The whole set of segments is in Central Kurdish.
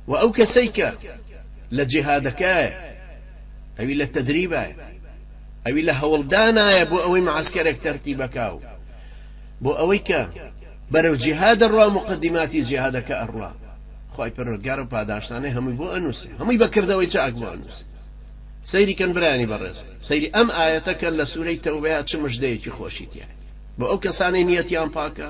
وە ئەو کەسەی کە لە جیهادەکایە ئەوی لە تەدریبایە ئەوی لە هەوڵدانایە بۆ ئەوەی معسکەرێک تەرتیب بکا و بۆ ئەوەی کە بەرەو جیهاد دەڕوا مقدماتی جیهادەکە ئەڕوا خی پەروەردگار و پاداشتانەی هەمووی بۆ ئەنووسێ هەمووی بەکردەوەی چاک بۆ ئەنووسێ سەیری کەن برانی بەڕێز سەیری ئەم ئاەتەکە لە سوورەی تەوبەیە چ مژدەیەکی خۆشی تیاە بۆ ئەو کەسانی نیەتیان پاکە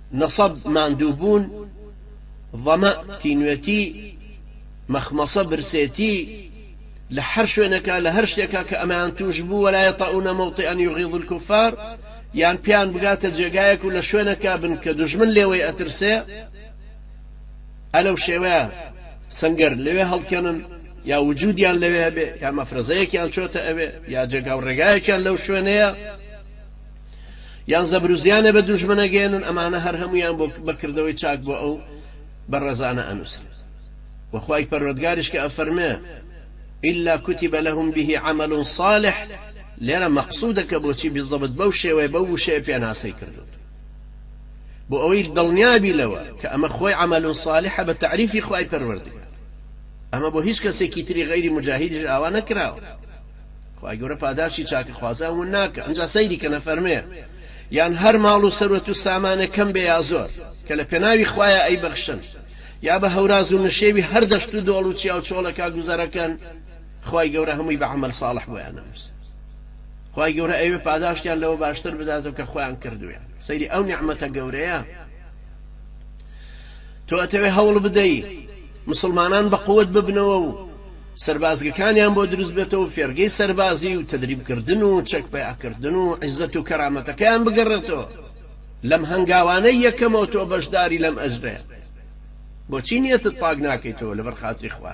نەسەب، ماندووبوون، ظەمە، تینوێتی، مەخمەسە، برسێتی، لە هەر شوێنێکە، لە هەر شتێکە کە ئەمەیان تووش بوو، ولا یطئون موطئا یغیظ الکفار، یان پێیان بگاتە جێگایەک و لە شوێنێکا بن کە دوژمن لێوەی ئەترسێ، ئا لەو شێوەیە سەنگەر لەوێ هەڵکەنن، یا وجودیان لەوێ هەبێ، یا مەفرەزەیەکیان چۆتە ئەوێ، یا جێگا و ڕێگایەکیان لەو شوێنەیە. یان زەبرو زیانێ بە دوژمن ئەگەیەنن ئەمانە هەر هەموویان بۆ بە کردەوەی چاک بۆ ئەو بەڕێزانە ئەنووسرێت وە خوای پەروەردگاریش کە ئەفەرمێ الا کتب لهم به عمل صالح لێرە مەقسودە کە بۆچی بزەبت بەو شێوەیە بەو وشەیە پێناسەی کردوت بۆ ئەوەی دڵنیابی لەوە کە ئەمە خۆی عمل صالحە بە تعریفی خوای پەروەردگار ئەمە بۆ هیچ کەسێکی تری غیری مجاهدیش ئاوا نەکراوە خوای گەورە پاداشی چاکە خوازان ون ناکا ئنجا سەیری کەن ئەفەرمێ یان هەر ماڵ و سەروەت و سامانێ کەم بێ یا زۆر کە لە پێناوی خوایە ئەی بەخشن یا بە هەوراز و نشێوی هەر دەشت و دۆڵ و چیا و چۆڵەکا گوزەرەکەن خوای گەورە هەمووی بە عەمەل ساڵح بۆیان نەنووس خوای گەورە ئەوێ پاداشتیان لەوە باشتر بداتەوە کە خۆیان کردویان سەیری ئەو نیعمەتە گەورەیە تۆ ئەتەوێ هەوڵ بدەی مسلمانان بە قوت ببنەوە و سەربازگەکانیان بۆ دروست بێتەوە و فێرگەی سەربازی و تەدریبکردن و چەک پەیاکردن و عیزەت و کەرامەتەکەیان بگەڕێتەوە لەم هەنگاوانەی یەکەمەوە تۆ بەشداری لەم ئەجرەیە بۆچی نیەتت پاک ناکەیتەوە لەبەر خاتری خوا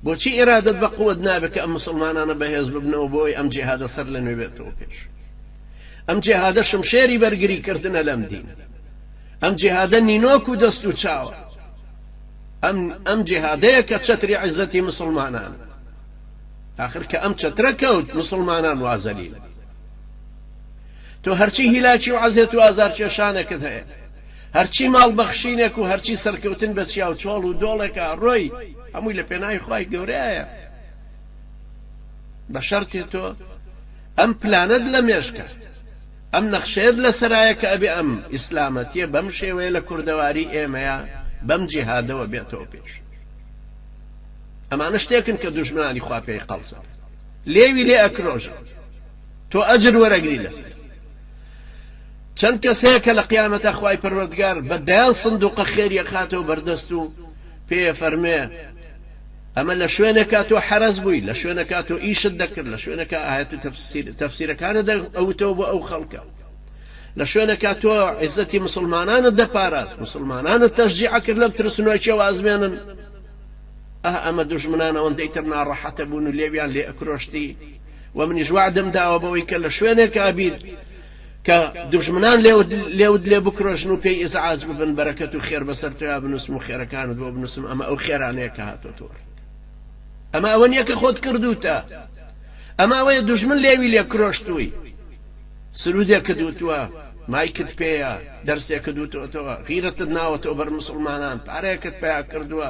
بۆچی ئیرادەت بە قوت نابێت کە ئەم مسلمانانە بەهێز ببنەوە بۆی ئەم جیهادە سەر لە نوێ بێتەوە پێش ئەم جیهادە شمشێری بەرگری کردنە لەم دین ئەم جیهادە نینۆک و دەست و چاوە ئەم ئەم جیهادەیە کە چەتری عیزەتی مسوڵمانان ئاخر کە ئەم چەترە کەوت مسوڵمانان وازەلیل تۆ هەرچی هیلاکی و عەزێت و ئازارکێشانێکت هەیە هەرچی ماڵ بەخشینێک و هەرچی سەرکەوتن بە چیا و چۆڵ و دۆڵێکە ڕۆی هەمووی لە پێناوی خی گەورەیە بە شەرتێ تۆ ئەم پلانت لە مێشکە ئەم نەخشەیەت لەسەرایە کە ئەبێ ئەم ئیسلامەتیە بەم شێوەیە لە کوردەواری ئێمەیا بەم جیهادەوە بێتەوە پێش. ئەمانە شتێکن کە دوژمنانی خوا پێی قەڵسن. لێوی لێ ئەکرۆژن. تۆ ئەجر وەرەگری لەسەر. چەند کەس هەیە کە لە قیامەتە خوای پەروەردگار بە دەیان سندوقە خێریە خاتەوە بەردەست و پێ فەرمێ ئەمە لە شوێنێکا تۆ حەرەز بووی لە شوێنەکە تۆ ئیشت دەکرد لە شوێنەکە ئاەت و تەفسیرەکانە ئەوتەوە بۆ ئەو خەڵکە لە شوێنەکە تۆ عیزەتی مسلمانانە دەپاراست مسلمانانە تەژجیع کرد لەم ترسنۆکی و ئازمێنن ئە ئەمە دژمنان ئەوەندەی تر ناڕەحەتە بوون و لێویان لێ ئەکرۆشتی و منیش وعدم داوە بەوەی کە لە شوێنێک ئابیت کە دوژمنان لێوت لێ بکرۆژن و پێی ئیزعاج ببن بەرەکەت و خێر بەسەر تۆیا بنووسم و خێرەکانت بۆ بنووسم ئەمە ئەو خێرانەیە کە هاتۆ تۆر ئەمە ئەوە نییە کە خۆت کردوتە ئەمە ئەوەیە دوژمن لێوی لێ کرۆشتووی سرودێک کە دوتووە مایکت پێەیە دەرسێکە دووتەوە غیرەتت ناوەتەوە بەر مسلمانان پارەیەکت پیا کردووە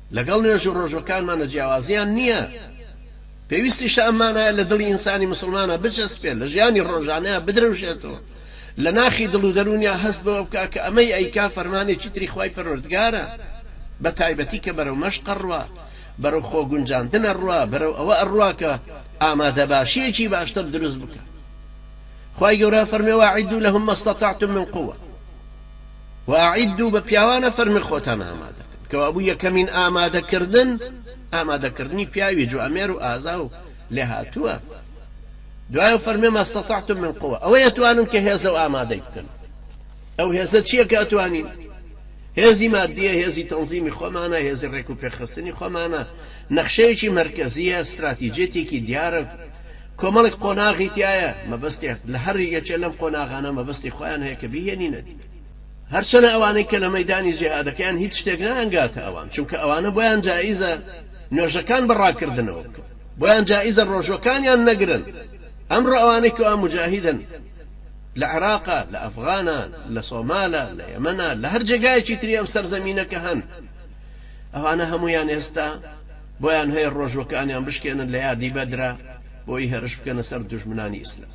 لەگەڵ نوێژ و ڕۆژووەکانمانە جیاوازییان نییە، پێویستیشە ئەم مانایە لە دڵی ئینسانی موسڵمانا بچەسپێت، لە ژیانی ڕۆژانەیا بدرەوشێتەوە، لە ناخی دڵ و دەروونیا هەست بەوە بکا کە ئەمەی ئەیکا فەرمانێکی تری خوای پەروەردگارە، بە تایبەتی کە بەرەو مەشق ئەڕوا، بەرەو خۆ گونجاندن ئەڕوا، بەرەو ئەوە ئەڕوا کە ئامادەباشییەکی باشتر دروست بکا. خوای گەورە ئەفەرمێ، وأعدوا لهم ما استطعتم من قوة. و اعدوا بە پیاوانە فەرمی خۆتان ئامادە کەن کەوابوو یەکەمین ئامادە کردن ئامادە کردنی پیاوی جوامێر و ئازا و لێهاتووە دوایە فەرمی ما استطعتم من قوە ئەوە یەتوانن کە هێزە و ئامادەی بکەن ئەو هێزە چییە کە ئەتوانین هێزی مادیە هێزی تەنزیمی خۆمانە هێزی ڕێک و پێخستنی خۆمانە نەخشەیەکی مرکزیە استراتیجێتێکی دیارە کۆمەڵێک قۆناغی تیایە، مەبەستی هەر لە هەر یەکێ لەم قۆناغانە مەبەستی خۆیان هەیە کە بیهێنینە دی. هەرچەنە ئەوانەی کە لە مەیدانی جیهادەکەیان هیچ شتێک نایانگاتە ئەوان، چونکە ئەوانە بۆیان جائیزە نۆژەکان بە ڕاکردنەوە بکەن، بۆیان جائیزە ڕۆژوەکانیان نەگرن، ئەمڕۆ ئەوانەی کەوا موجاهیدن لە عێراقە، لە ئەفغانە، لە سۆمالە، لە یەمەنە، لە هەر جێگایەکی تری ئەم سەرزەمینە کە هەن، ئەوانە هەموویان ئێستا، بۆیان هەیە ڕۆژوەکانیان بشکێنن لە یادی بەدرا بۆیی هێرش بکەنە سەر دوژمنانی ئیسلام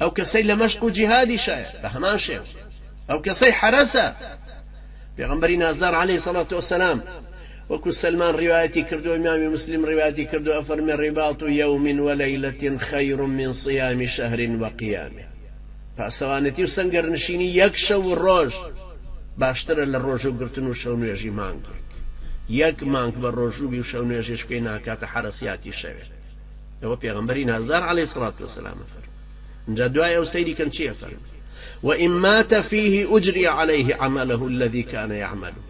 ئەو کەسەی لە مەشق و جیهادی شایە بە هەمان شێوە ئەو کەسەی حەرەسە پێغمبەری نازدار عليه سەڵات وسلام وەکو سلمان ڕیواەتی کردو ئیمامی مسلیم ڕیواەتی کردو ئەفەرمێ ڕیباط و یوم ولەیلەتین خیر من صیام شهر وقیامه پاسەوانێتی و سەنگەرنشینی یەک شەو و ڕۆژ باشترە لە ڕۆژوو گرتن و شەونوێژی مانگێک. یەک مانگ بە ڕۆژوو بی و شەونوێژیش پێی ناکاتە حەرەسیاتی شەوێ. ئەوە پێغەمبەری نازدار علی صلوة و سلام ئەفەرموێ. ئینجا دوای ئەو سەیری کەن چی ئەفەرموێ، وإن مات فیه اجری علیه عمله الذی کان یعمله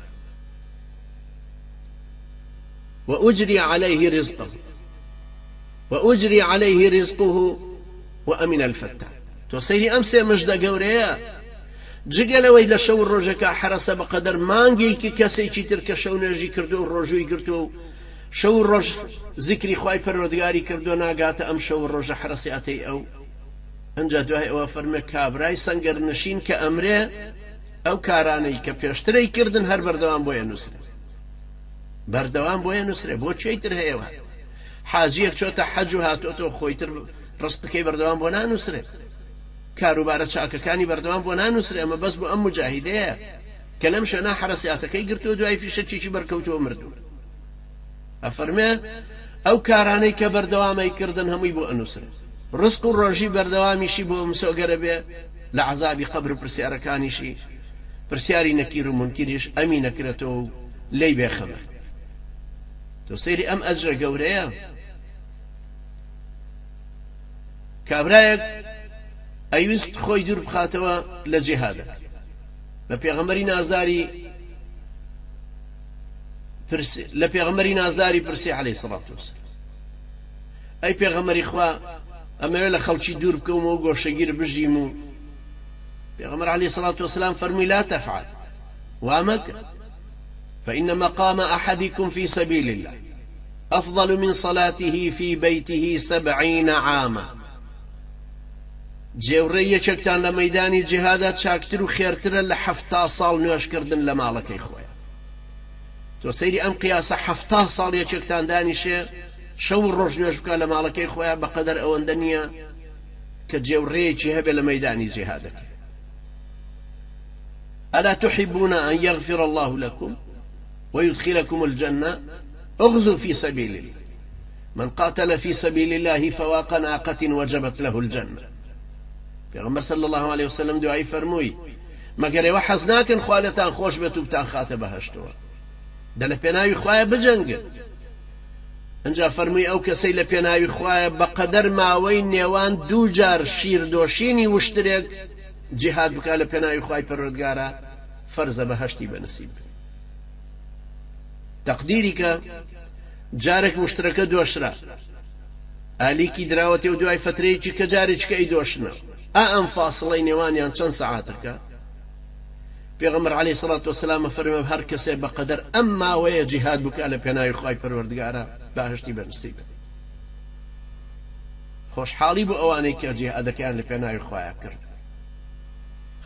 وأجری علیه رزقه. و اجری علیه رزقه و امن الفتان تۆ سەیری ئەم سێ مژدە گەورەیە جگە لەوەی لە شەو و ڕۆژەکە حەرەسە بەقەدەر مانگێکی کەسێکی تر کە شەو نوێژی کردووە و ڕۆژووی گرتووە و شەو و ڕۆژ زیکری خوای پەروەردگاری کردووە ناگاتە ئەم شەو و ڕۆژە حەرەسیاتەی ئەو ئەنجا دوای ئەوە فەرمێ کابرای سەنگەر نشین کە ئەمرێ ئەو کارانەی کە پێشترەی کردن هەر بەردەوام بۆیە نووسرێ بەردەوام بۆیە نووسرێ بۆ چێتر هەیەوە حاجیەک چۆتە حەج و هاتۆتەوە خۆیتر ڕستقەکەی بەردەوام بۆ نانوسرێ کاروبارە چاکەکانی بەردەوام بۆ نانوسرێ ئەمە بەس بۆ ئەم مجاهیدەیە کە لەم شوێنە حرەسیاتەکەی گرتووە دوای فیشەکێکی بەرکەوتووە مردوو ئەفەرمێ ئەو کارانەی کە بەردەوامەی کردن هەمووی بۆ ئەنووسرێ ڕسق و ڕۆژی بەردەوامیشی بۆ مسۆگەرە بێ لە عذابی قبر و پرسیارەکانیشی پرسیاری نەکیر و منکریش ئەمی نەکرێتەوە و لی بێخەمە تۆ سەیری ئەم ئەجرە گەورەیە کابرایەک ئەیوست خۆی دوور بخاتەوە لە جێهادەک بە پێغەمەری نازداری لە پێغەمەری نازداری پرسی عليه سڵات وسلام ئەی پێغەمەری خوا ئەمەوێت لە خەڵکی دوور بکەومە و گۆشەگیر بژیم و پێغەمەر علی سڵات وسلام فەرمووی لا تەفعل وامەکە فإن مقام أحدکم فی سبیل اللە أفضل من صلاته فی بیته سبعین عاما، جێوڕێی یەکێکتان لە مەیدانی جیهادا چاکتر و خێرترە لە حەفتا ساڵ نوێژکردن لە ماڵەکەی خۆیا. تۆ سەیری ئەم قیاسە حەفتا ساڵ یەکێکتان دانیشێ شەو و ڕۆژ نوێژ بکا لە ماڵەکەی خۆیا بەقەدەر ئەوەندە نییە کە جێوڕێیەکی هەبێ لە مەیدانی جیهادەکەی. الا تحبون ان یغفر اللە لکم ویدخلکم الجنە اغزو فی سبیل اللە من قاتل فی سبیل اللە فواق ناقت وجبت له الجنە پێغەمبەر صلی اللە علیە وسلم دوایی فەرمووی مەگەر ئێوە حەز ناکەن خوا لێتان خۆش بێت و بتان خاتە بەهشتەوە دە لە پێناوی خوایە بجەنگن ئەجا فەرمووی ئەو کەسەی لە پێناوی خوایە بەقەدەر ماوەی نێوان دوو جار شیردۆشینی وشترێک جیهاد بکا لە پێناوی خوای پەروەردگارا فەرزە بەهەشتی بە نسیب بێ تەقدیری کە جارێک مشترەکە دۆشرا ئالیکی دراوەتێ و دوای فترەیەکی کە جارێککە ئەی دۆشنە ئا ئەم فاسڵەی نێوانیان چەند سەعاتەکە پێغەمبەر علی سڵات وسلامە فەرمە هەر کەسێ بە قەدەر ئەم ماوەیە جیهاد بکە لە پێناوی خی پەروەردگارە باشتی بەنسیبێت خۆشحاڵی بۆ ئەوانەی کە جیهادەکەیان لە پێناوی خوایا کردووە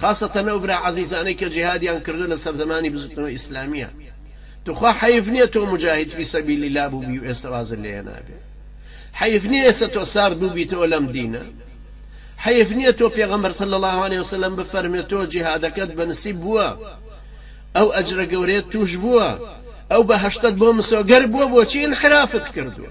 خاسەتەن ئەو برا عەزیزانەی کە جیهادیان کردووە لە سەردەمانی بزوتنەوەی ئیسلامیە توخوا حەیف نییە تۆ مجاهید فی سەبیل اللە بووبی و ئێستا وازت لێ هێنابێ حەیف نییە ئێستا تۆ سارد بووبیتەوە لەم دینە حەیف نییە تۆ پێغەمبەر صلی الله علیه وسلم بفەرمێ تۆ جیهادەکەت بە نسیب بووە ئەو ئەجرە گەورەیە توش بووە ئەو بەهەشتت بۆ مسۆگەر بووە بۆچی انحرافت کردووە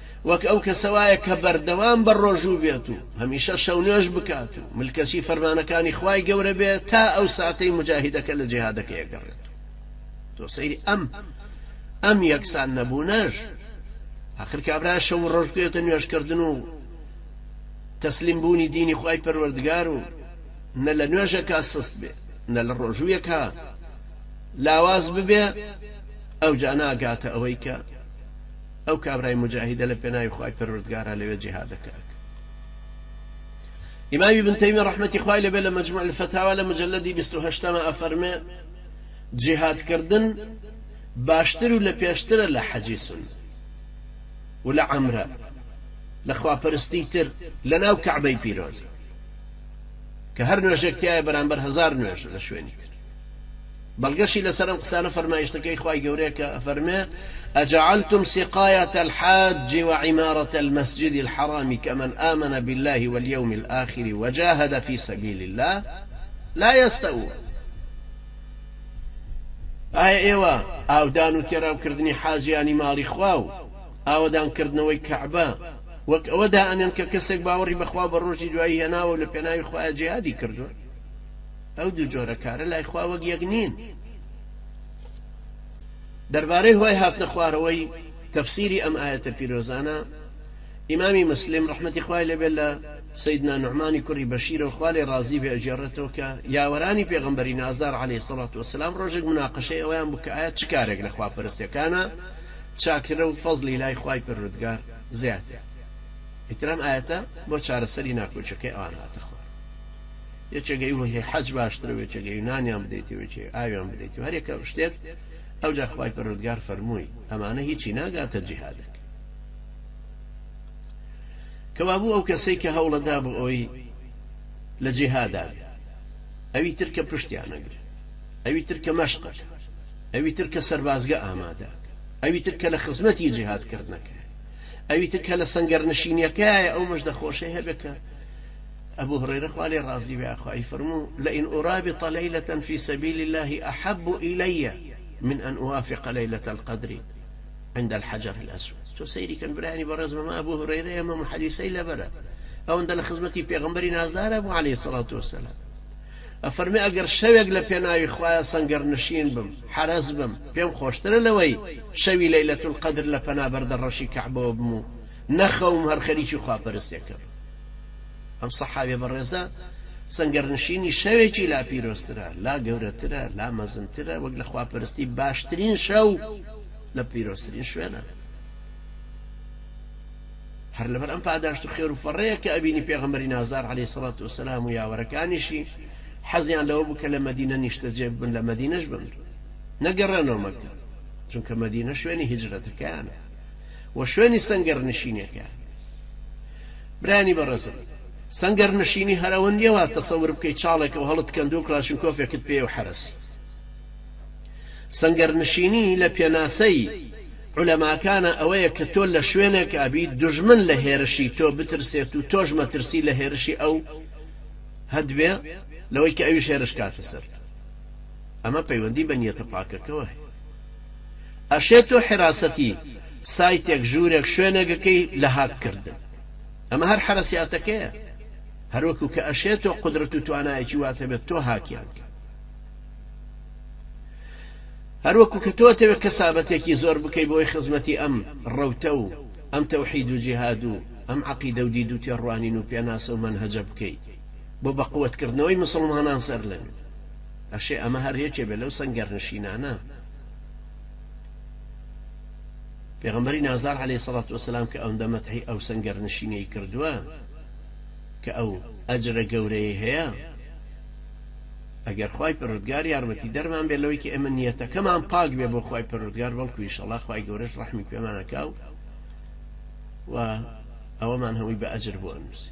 وەک ئەو کەسە وایە کە بەردەوام بە ڕۆژوو بێت و هەمیشە شەونوێژ بکات و ملکەچی فەرمانەکانی خوای گەورە بێ تا ئەو ساتەی موجاهیدەکە لە جیهادەکەی ئەگەڕێت و تۆ سەیری ئەم ئەم یەکسان نەبوونەش ئاخر کابرا شەو و ڕۆژ بکەوێتە نوێژکردن و تەسلیم بوونی دینی خوای پەروەردگار و نە لە نوێژەکە سست بێ نە لە ڕۆژوویەکە لاواز ببێ ئەو جا ناگاتە ئەوەی کە ئەو کابرای موجاهیدە لە پێناوی خوای پەروەردگارا لەوێ جیهادەکە ئەکا ئیمام ابن تەیمی ڕەحمەتی خوای لەبێ لە مجموع الفتاوا لە مجلدی 28 مە ئەفەرمێ جیهادکردن باشتر و لە پێشترە لە حەجی سن و لە عەمرە لە خواپەرستی تر لە ناو کەعبەی پیرۆزە کە هەر نوێژێک تایە بەرامبەر هزار نوێژ لە شوێنی تر بەڵگەشی لەسەر ئەم قسانە فەرمایشتەکەی خوای گەورەیە کە ئەفەرمێ اجعلتم سقایەت الحاج و عمارەت المسجد الحرام کمن آمن بالله والیوم الآخر وجاهد فی سبیل الله لا یستوون ئایا ئێوە ئاودان و تێراو کردنی حاجیانی ماڵی خوا و ئاوەدان کردنەوەی کەعبە وەک ئەوە دائەنێن کە کەسێک باوەڕی بەخوا بە ڕۆژی دوایی هێناوە و لە پێناوی خوایە جیهادی کردووە ئەو دوو جۆرە کارە لای خوا وەک یەک نین. دەربارەی هۆی هاتنە خوارەوەی تەفسیری ئەم ئایەتە پیرۆزانە، ئیمامی مسلم ڕەحمەتی خوای لێ بێت لە سەیدنا نوعمانی کوڕی بەشیرەوە خوا لێ ڕازی بێ ئەگێڕێتەوە کە یاوەرانی پێغەمبەری نازدار عەلەیهی سەڵات وەسەلام ڕۆژێک مناقەشەی ئەوەیان بوو کە ئایا چ کارێک لە خوا پەرستەکانا چاکترە و فەزڵی لای خوای پەروەردگار زیاترە؟ ئیتر ئەم ئایەتە بۆ چارەسەری ناکۆکیەکەی ئەوان هاتە خوار. وێچەگە ی وە هی حەج باشترە وێچەگە ی نانیان بدەیتێ وێچە ی ئاویان بدەیتێ هەر یەکە شتێک ئەوجا خوای پەروەردگار فەرمووی ئەمانە هیچی ناگاتە جیهادەک کەوابوو ئەو کەسەی کە هەوڵە دا بۆ ئەوی لە جیهادا بێ ئەوی تر کە پشتیان نەگرێ ئەوی تر کە مەشقەکە ئەوی تر کە سەربازگە ئامادە ئەوی تر کە لە خزمەتی جیهاد کردنەکە ئەوی تر کە لە سەنگەر نشینیەکایە ئەو مژدە خۆشەی هەبێکە ئەبو هورەیرە خوا لێی ڕازی بێ ئاخۆ ئەیفەرموو، لئن ئورابط لەیلەتەن فی سەبیل اللە احب الی من ان اوافق لەیلە القدر عند الحجر الاسود تۆ سەیری کەن برایانی بەڕێز مەم ئەبو هورەیرەیە مەم حەدیسەی لەبەرە ئەوەندە لە خزمەتی پێغەمبەری نازدارە بوو عەلەیهی سەڵات وەسەلام ئەفەرمێ ئەگەر شەوێک لە پێناوی خوایە سەنگەر نشین بم حەرەس بم پێم خۆشترە لەوەی شەوی لەیلەت القدر لە پەنا بەردە ڕەشی کەعبەوە بم و نەخەوم هەر خەریکی خواپەرستێکە بم ئەم سەحابیە بەڕێزە سەنگەرنشینی شەوێکی لا پیرۆزترە لا گەورەترە لا مەزنترە وەک لە خواپەرستی باشترین شەو لە پیرۆزترین شوێنە هەر لەبەر ئەم پاداشت و خێر و فەڕەیە کە ئەبینی پێغەمەری نازار عليه سڵات و سلام و یاوەرەکانیشی حەزیان لەوە بوو کە لە مدینە نیشتە جێ بن لە مدینەش بن نەگەڕێنەوە مەکە چونکە مدینە شوێنی هجرەتەکەیانە وە شوێنی سەنگەر نشینەکە برایانی بەڕێزم سەنگەر نشینی هەر ئەوە نیە وات تەسەور بکەی چاڵێکەو هەڵت کەندوو کڵاشینکۆفێکت پێیە و حەرەسی سەنگەر نشینی لە پێناسەی عولەماکانە ئەوەیە کە تۆ لە شوێنێک ئابیت دوژمن لە هێرشی تۆ بترسێت و تۆش مەترسی لە هێرشی ئەو هەدبێ لەوەی کە ئەویش هێرش کاتە سەرت ئەمە پەیوەندی بە نیەتە پاکەکەوە هەیە. ئەشێ تۆ حراسەتی سایتێک ژورێک شوێنێک بکەی لە هاک کردن ئەمە هەر حەرەسیاتەکەیە هەروەکو کە ئەشێ تۆ قدرەت و توانایەکی وات هەبێت تۆ هاکیان کە هەروەکو کە تۆ تەوێت کەسابەتێکی زۆر بکەی بۆی خزمەتی ئەم ڕەوتە و ئەم تەوحید و جیهاد و ئەم عقیدە و دید و تێڕوانین و پێناسە و منهەجە بکەیت بۆ بەقوتکردنەوەی مسلمانان سەر لەنوێ ئەشێ ئەمە هەر یەکێ بێ لەو سەنگەرنشینانە. پێغەمبەری نازدار عەلەیهی سەڵات وەسەلام کە ئەوندە مەتحی ئەو سەنگەرنشینەی کردووە کە ئەو ئەجرە گەورەیەی هەیە، ئەگەر خوای پەروەردگار یارمەتیدەرمان بێ لەوەی کە ئێمە نیەتەکەمان پاک بێ بۆ خوای پەروەردگار بەڵکو ئیشەڵا خوای گەورەش ڕەحمی پێمان ئەکا و ئەوەمان هەمووی بە ئەجر بۆ ئەنووسی.